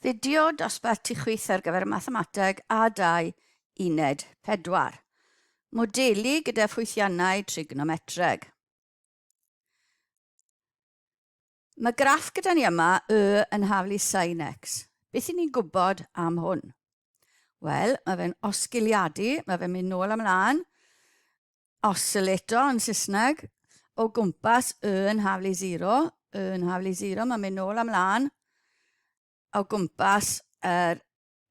Fideo dosbarthu chwith ar gyfer Mathemateg A2 Uned 4. Modelu gyda ffwythiannau trignometreg. Mae graff gyda ni yma y yn hafl i sin x. Beth i ni'n gwybod am hwn? Wel, mae fe'n osgiliadu, mae fe'n mynd nôl ymlaen. oscillator yn Saesneg, o gwmpas y yn haflu zero, y yn haflu zero, mae'n mynd nôl am lan, o gwmpas yr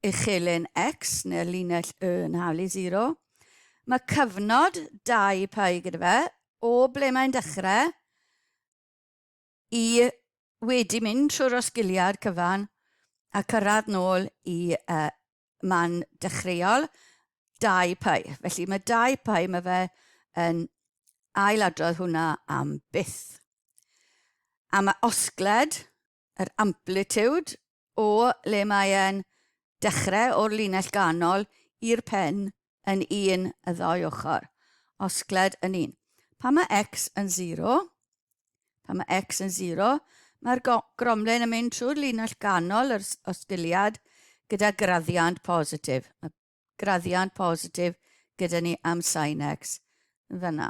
uchelyn x, neu'r linell y yn haflu zero. Mae cyfnod dau pai gyda fe, o ble mae'n dechrau, i wedi mynd trwy'r osgiliad cyfan a cyrraedd nôl i uh, man dechreuol, dau pau. Felly mae dau pau, mae fe yn ailadrodd hwnna am byth. A mae osgled, yr amplitude, o le mae e'n dechrau o'r linell ganol i'r pen yn un y ddou ochr, osgled yn un. Pan mae x yn 0, pan mae x yn 0, mae'r gromlen yn mynd trwy'r linell ganol yr osgiliad gyda graddiant positif. Mae graddiant positif gyda ni am sin x yn fyna.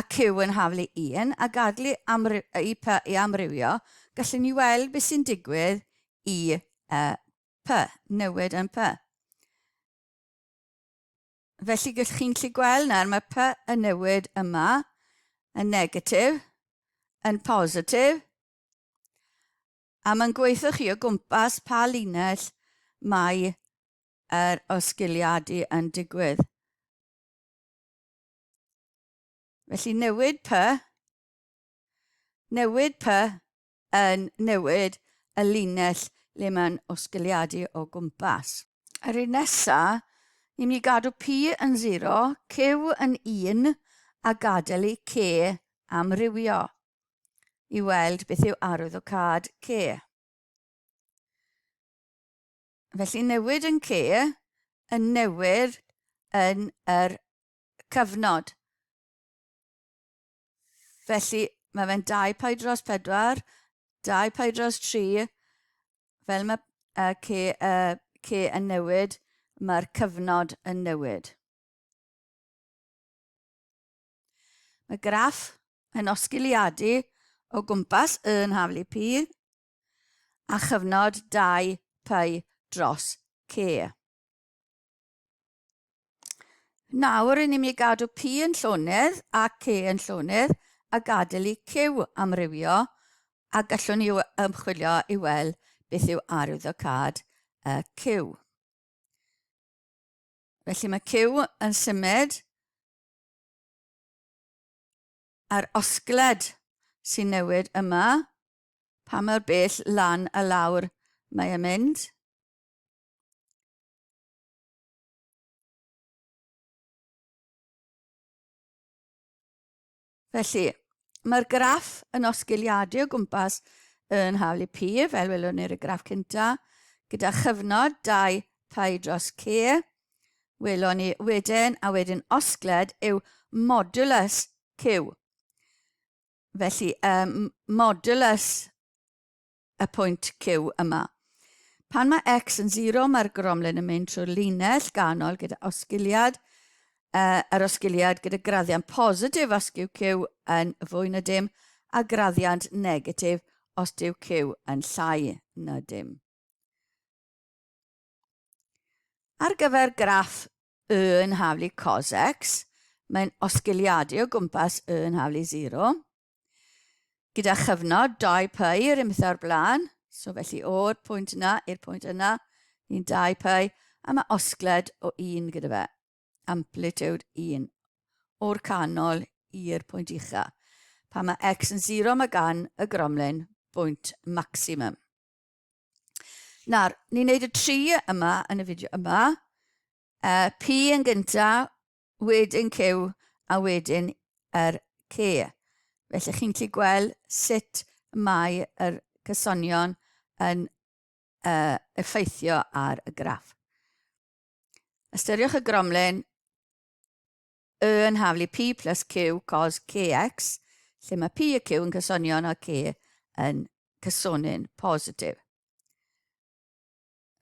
ac yw yn haflu un a gadlu y p i amrywio, gallwn ni weld beth sy'n digwydd i y p, newid yn p. Felly gallwch chi'n gallu gweld nawr mae p yn newid yma, yn negatif, yn positif, a mae'n gweithio chi o gwmpas pa linell mae yr osgiliadu yn digwydd. Felly newid py, newid py yn newid y linell le mae'n osgiliadu o gwmpas. Yr un nesa, ni'n mynd i gadw P yn 0, Q yn 1 a gadael i C amrywio i weld beth yw arwyddocâd C. Felly newid yn lle y newid yn yr cyfnod. Felly mae fe'n 2 pi dros 4, 2 pi dros 3, fel mae y ce, y ce yn newid, mae'r cyfnod yn newid. Mae graff yn osgiliadu o gwmpas y yn haflu pi a chyfnod dau py dros C. Nawr, rydyn ni'n mynd i gadw P yn llonydd a C yn llonydd a gadael i Q amrywio a gallwn ni ymchwilio i weld beth yw arwyddocâd y Q. Felly mae Q yn symud a'r osgled sy'n newid yma Pa mor bell lan a lawr mae e'n mynd? Felly, mae'r graff yn osgiliadu o gwmpas yn haflu P, fel welwn ni'r graff cynta, gyda chyfnod 2 pi dros C. Welwn ni wedyn, a wedyn osgled, yw modulus Q. Felly, um, modulus y pwynt Q yma. Pan mae x yn 0, mae'r gromlin yn mynd trwy'r linell ganol gyda osgiliad, uh, yr osgiliad gyda graddiant positif os yw Q yn fwy na dim, a graddiant negatif os yw Q yn llai na dim. Ar gyfer graff Y yn haflu cos x, mae'n osgiliadu o gwmpas y yn haflu 0. Gyda chyfnod 2 pi yr unbeth o'r blaen, so felly o'r pwynt yna i'r pwynt yna, ni'n 2 pi, a mae osgled o 1 gyda fe, amplitude 1, o'r canol i'r pwynt ucha. Pan mae x yn 0 mae gan y gromlin bwynt maximum. Nawr, ni'n neud y tri yma yn y fideo yma. Uh, P yn gynta, wedyn Q, a wedyn yr er C. Felly chi'n gallu gweld sut mae yr cysonion yn uh, effeithio ar y graff. Ystyriwch y gromlen Y yn haflu P plus Q cos Kx, lle mae P a Q yn cysonion a K yn cysonin positif.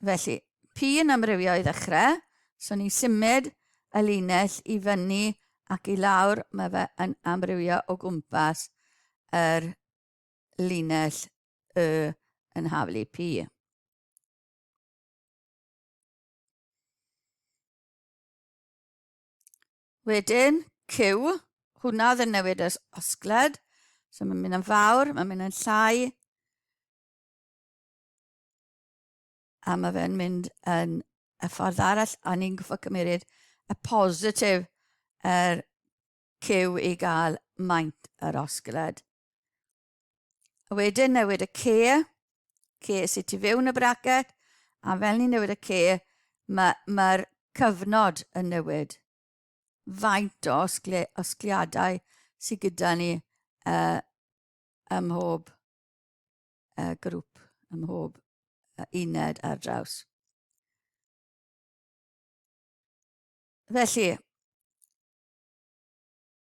Felly, P yn amrywio i ddechrau, so ni'n symud y linell i fyny ac i lawr, mae fe yn amrywio o gwmpas yr linell y yn haflu P. Wedyn, Q, hwnna oedd yn newid yr osgled. So mae'n mynd yn fawr, mae'n mynd yn llai. A mae fe'n mynd yn y ffordd arall, a ni'n gwybod cymeryd y positif yr er Q i gael maint yr osgled. A wedyn newid y ce, ce sydd tu fewn y bracet, a fel ni'n newid y ce, mae'r ma, ma cyfnod yn newid. Faint o osgle, osgliadau sydd gyda ni uh, ym mhob uh, grŵp, ym mhob uh, uned ar draws. Felly,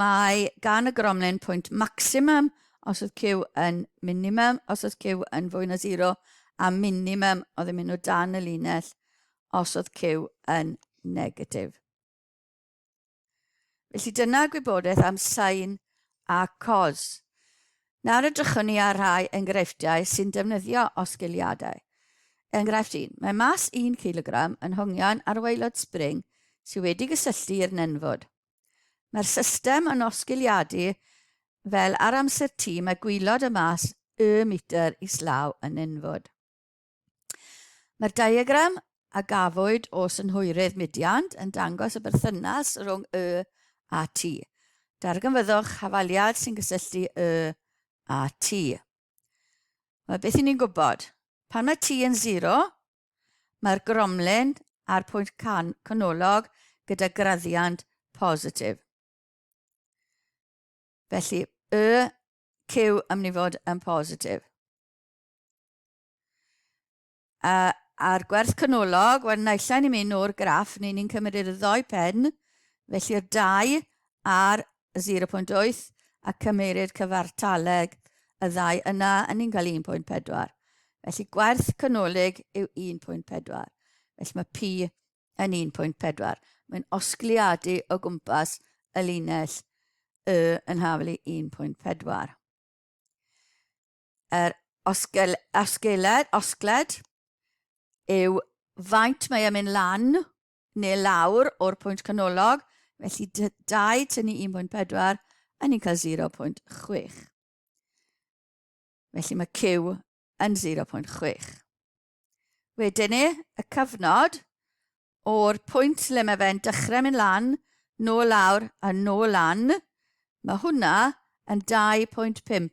Mae gan y gromlin pwynt maximum os oedd Q yn minimum, os oedd Q yn fwy na 0, a minimum oedd yn mynd o dan y linell os oedd Q yn negatif. Felly dyna gwybodaeth am sain a cos. Nawr edrychwn ni ar rhai enghreifftiau sy'n defnyddio osgiliadau. Enghraifft 1. Mae mas 1 cilogram yn hongian ar waelod spring sydd wedi gysylltu i'r nenfwd. Mae'r system yn osgiliadu fel ar amser T mae gwylod y mas y metr islaw yn nenfwd. Mae'r diagram a gafwyd o synhwyrydd Midian yn dangos y berthynas rhwng Y a T. Darganfyddwch hafaliad sy'n gysylltu Y a T. Mae beth i ni'n gwybod. Pan mae T yn 0, mae'r gromlin a'r pwynt can canolog gyda graddiant positif. Felly, Y, Q am ni fod yn positif. A, a'r gwerth canolog, wel naill ai ni'n mynd o'r graff neu ni'n cymryd y ddou pen, felly'r dau ar 0.8 a cymerid cyfartaleg y ddau yna, a ni'n cael 1.4. Felly gwerth canolig yw 1.4. Felly mae P yn 1.4. Mae'n osgliadu o gwmpas y linell Y yn haflu 1.4. yr osgel, osgeled, osgled yw faint mae e'n mynd lan neu lawr o'r pwynt canolog, felly 2 tynnu 1.4, a ni'n cael 0.6. Felly mae Q yn 0.6. Wedyn ni, y cyfnod o'r pwynt lle mae fe'n dechrau mynd lan, nôl lawr a nôl lan, mae hwnna yn 2.5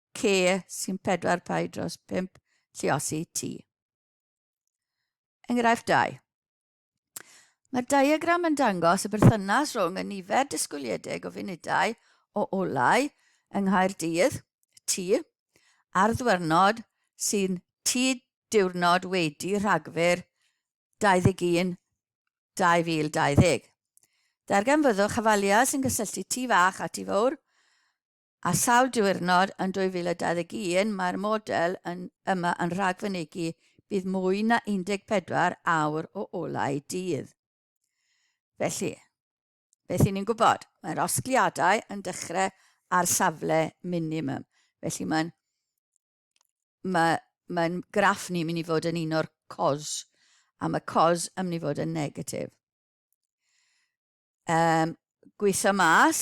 ce sy'n pedwar pai dros pump lliosi T. Enghraifft 2. Mae'r diagram yn dangos y berthynas rhwng y nifer disgwyliedig o funudau o olau yng Nghaerdydd, T, a'r ddwyrnod sy'n T diwrnod wedi Rhagfyr 21 2020. Darganfyddwch hafaliau sy'n cysylltu T fach a T fawr Ar sawl diwrnod yn 2021 mae'r model yn yma yn rhagfynegi bydd mwy na 14 awr o olau dydd. Felly, beth i ni'n gwybod? Mae'r osgliadau yn dechrau ar safle minimum. Felly mae'n mae, mae graff ni'n mynd i fod yn un o'r cos, a mae cos yn mynd i fod yn negatif. Um, gweithio mas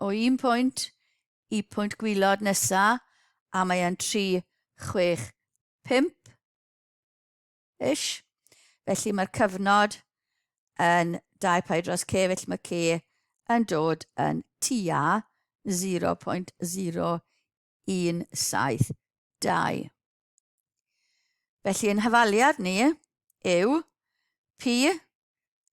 o un pwynt i pwynt gwylod nesa a mae e'n 365 ish felly mae'r cyfnod yn 2 pi dros k felly mae k yn dod yn tua 0.0172 felly yn hyfaliad ni yw pi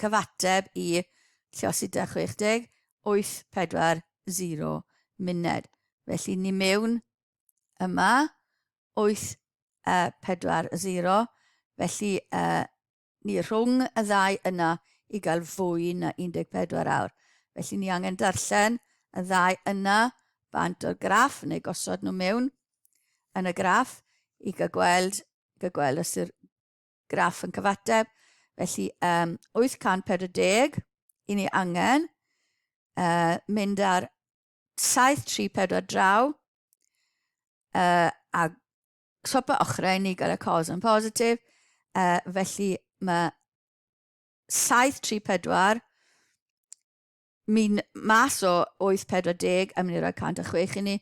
Cyfateb i Llosita 60, 840 munud. Felly ni mewn yma, 840, felly ni rhwng y ddau yna i gael fwy na 14 awr. Felly ni angen darllen y ddau yna bant o'r graff, neu gosod nhw mewn yn y graff i gael gweld, gael gweld os yw'r Graff yn cyfateb. Felly, um, 840, i ni angen uh, mynd ar 734 draw uh, a swapa ochrau ni gael y cos yn positif. Uh, felly, mae 734 Mynd mas o 840 a mynd i roi 106 i ni.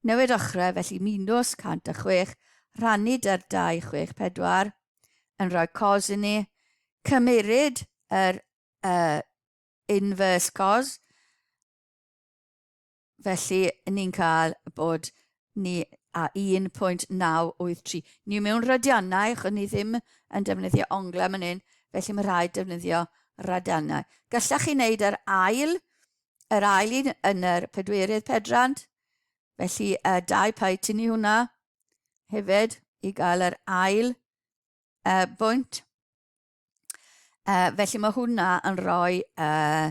Newid ochrau, felly minws 106, rhannu 'da'r 264, yn rhoi cos i ni. Cymeryd yr uh, inverse cos, Felly, ni'n cael bod ni a 1.983. Ni mewn radiannau, achos ni ddim yn defnyddio onglau yn hyn, felly mae rhaid defnyddio radiannau. Gallech chi wneud yr ail, yr ail un yn yr pedwerydd pedrand, felly y dau pai tynnu hwnna hefyd i gael yr ail uh, bwynt. Uh, felly mae hwnna yn rhoi uh,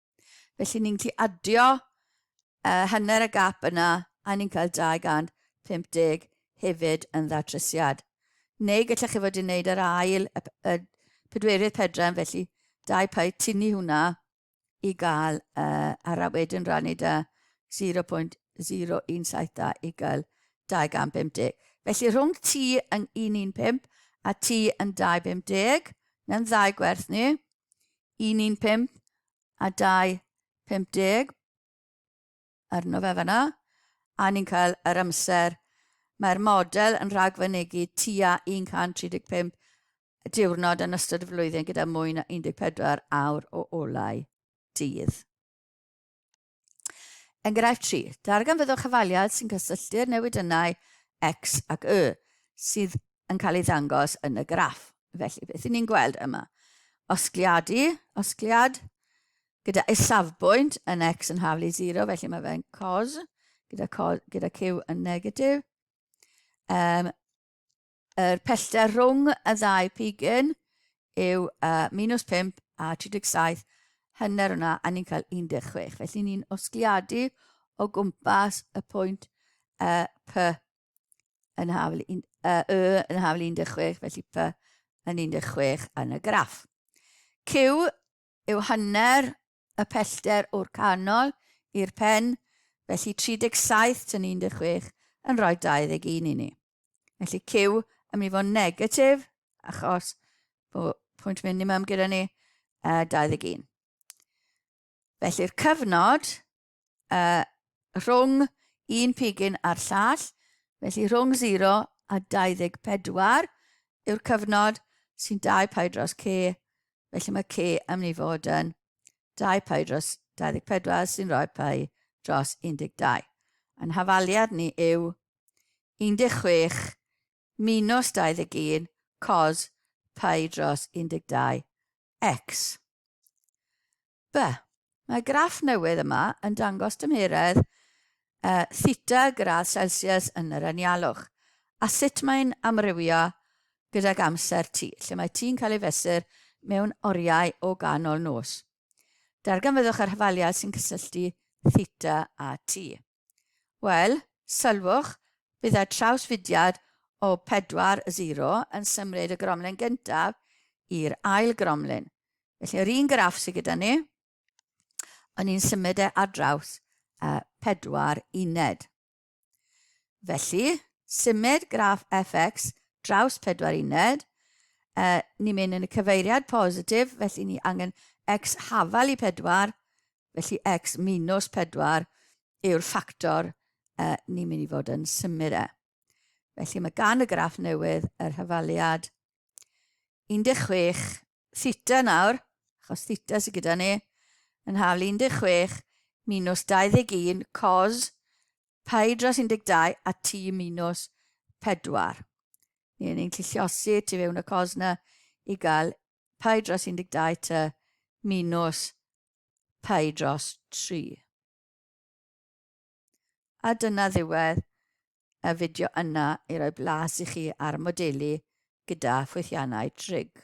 Felly ni'n gallu adio uh, hanner y gap yna a ni'n cael 250 hefyd yn ddatrysiad. Neu gallech chi fod i'n neud yr ail, y, y pedwerydd pedran, felly dau pau tynnu hwnna i gael uh, ar a wedyn rannu da 0.0172 i gael 250. Felly rhwng T yn 115 a T yn 250, neu'n ddau gwerth ni, 115 a 250 arno fe fanna, a ni'n cael yr amser. Mae'r model yn rhagfynegu tua 135 diwrnod yn ystod y flwyddyn gyda mwy na 14 awr o olau dydd. Enghraifft 3. Darganfyddwch chyfaliad sy'n cysylltu'r newidynnau X ac Y sydd yn cael ei ddangos yn y graff. Felly, beth ni'n gweld yma? Osgliadu, osgliad, gyda isafbwynt yn X yn haflu 0, felly mae fe'n cos, gyda, cos, gyda Q yn negatif. Um, Yr pellter rhwng y ddau pigyn yw uh, minus 5 a 37 hynner hwnna, a ni'n cael 16. Felly ni'n osgliadu o gwmpas y pwynt uh, P yn hafl, un, uh, Y yn hafl 16, felly P yn 16 yn y graff. Q yw hanner y pellter o'r canol i'r pen, felly 37 tyn 16 yn rhoi 21 i ni. Felly Q yn mynd i fod yn negatif, achos bod pwynt minimum gyda ni, uh, 21. Felly'r cyfnod uh, rhwng un pigyn a'r llall, felly rhwng 0 a 24 yw'r cyfnod sy'n 2 pai dros c, felly mae c yn mynd i fod yn 2 pai dros 24 sy'n rhoi pai dros 12. Yn hafaliad ni yw 16 minus 21 cos pi dros 12 x. Be? Mae graff newydd yma yn dangos tymheredd e, theta gradd Celsius yn yr anialwch, a sut mae'n amrywio gydag amser t, lle mae t'n cael ei fesur mewn oriau o ganol nos. Darganfyddwch yr hafaliad sy'n cysylltu theta a t. Wel, sylwch, byddai trawsfudiad o 4-0 yn symud y gromlin gyntaf i'r ail gromlin. Felly, yr un graff sydd gyda ni, ond ni'n symud e ar draws y pedwar uned. Felly, symud graff fx draws pedwar uned, uh, ni'n mynd yn y cyfeiriad positif, felly ni angen x hafal i pedwar, Felly x minus 4 yw'r ffactor uh, ni'n mynd i fod yn symud e. Felly mae gan y graff newydd yr hyfaliad 16 theta nawr, achos theta sydd gyda ni, yn haflu 16 minus 21 cos pi dros 12 a t minus 4. Ni'n ni'n clilliosi tu fewn y cos na i gael Pi dros 12 ta minws pi dros 3. A dyna ddiwedd y fideo yna i roi blas i chi ar modelu gyda ffwythiannau trig.